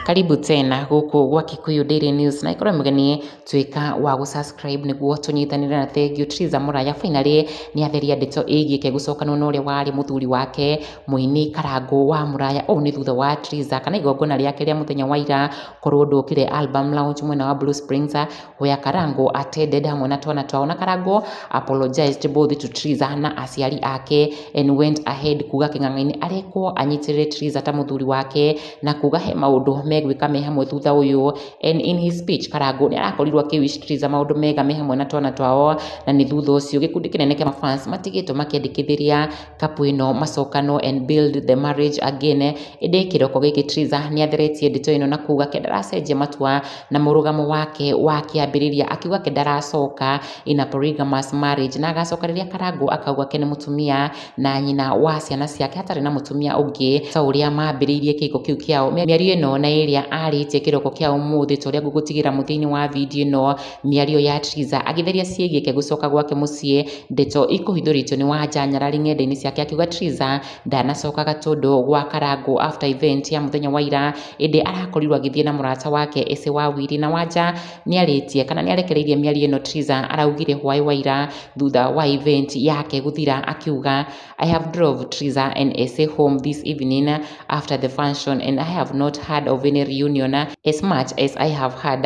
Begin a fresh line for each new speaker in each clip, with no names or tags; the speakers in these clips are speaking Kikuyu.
karibu tena gũkũ gwa kikuyu daily news na ikorwo mũgeni tuĩka wa gũ subscribe nĩguo tũnyitanĩre na thengiũ Theresa Mũraya finally nĩ atheria ndeto ĩgiĩ kegũcokanwo na ũrĩa warĩ mũthuri wake mũini Karangũ wa Mũraya ũũ nĩ thutha wa Theresa kana igongona rĩake rĩa mũthenya wa ira korwo ndũkire album launch mwena wa Blue Springs Where Karango attended hamwe na twana twao na Karango apologized both to Triza na aciari ake and went ahead kuga kĩng'ang'ainĩ arekwo anyitirĩre Triza ta mũthuri wake na kuga he maũndũ megwĩka me hamwe thutha ũyũ and in his speech Karango nĩ arakorirwo akĩwish Triza maũndũ mega me hamwe na twana twao na nĩ thutha ũcio gĩkundi kĩnene kĩa mafans matigĩtwo makĩandĩkithĩria Kapu ĩno macokano and build the marriage again. Ĩndĩ kĩroko gĩkĩ Triza nĩ atheretie ndeto ĩno na kuuga ke ndaracenjia matua na mũrũgamo wake wa kĩambĩrĩria akiuga ke ndaracoka in a polygamous marriage na agacoka rĩrĩa Karangũ akauga ke nĩ mũtumia na nyina wa ciana ciake hatarĩ na mũtumia ũngĩ ta ũrĩa mambĩrĩirie kĩhiko kĩu kĩao. Mĩario ĩno na ĩrĩa arĩtie kĩroko kĩa ũmũthĩ ta ũrĩa ngũgũtigĩra mũthia-inĩ wa video ĩno. Mĩario ya Triza agĩtheria ciĩgiĩke gũcoka gwake mũciĩ ndeto ikũhithũrĩtio nĩ Wanja nyarari ng'endainĩ ciake akiuga Triza ndanacoka Gatũndũ gwa Karangũ after event ya mũthenya wa ira ĩndĩ arakorirwo agĩthiĩ na mũrata wake Ese wa Wili na Wanja nĩarĩtie kana nĩarekereirie mĩario ĩno Triza araugire hwaĩ wa ira thutha wa event yake gũthira akiuga I have drove Triza and Ese home this evening after the function and I have not heard of any reunion as much as I have heard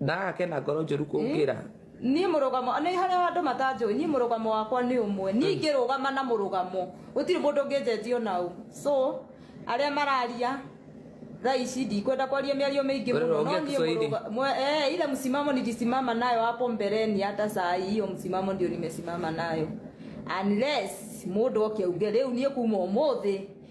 Ndaga kena
ngoro njũru kũngĩra. Niĩ mũrũgamo,
nĩ harĩa andũ matanjũĩ, niĩ mũrũgamo wakwa nĩ ũmwe. Niĩ ingĩrũgama na mũrũgamo, gũtirĩ mũndũ ũngĩnjenjia ona ũ. So, arĩa mararia thaa ici ndikwenda kwaria mĩario mĩingĩ mũno. Wewe ongea No niĩ Kiswahili. mũrũga- mwe- eh, ile msimamo nilisimama nayo hapo mbeleni hata saa hii hiyo msimamo ndio nimesimama nayo. Unless mũndũ oke auge rĩu niĩ kuma ũmũthĩ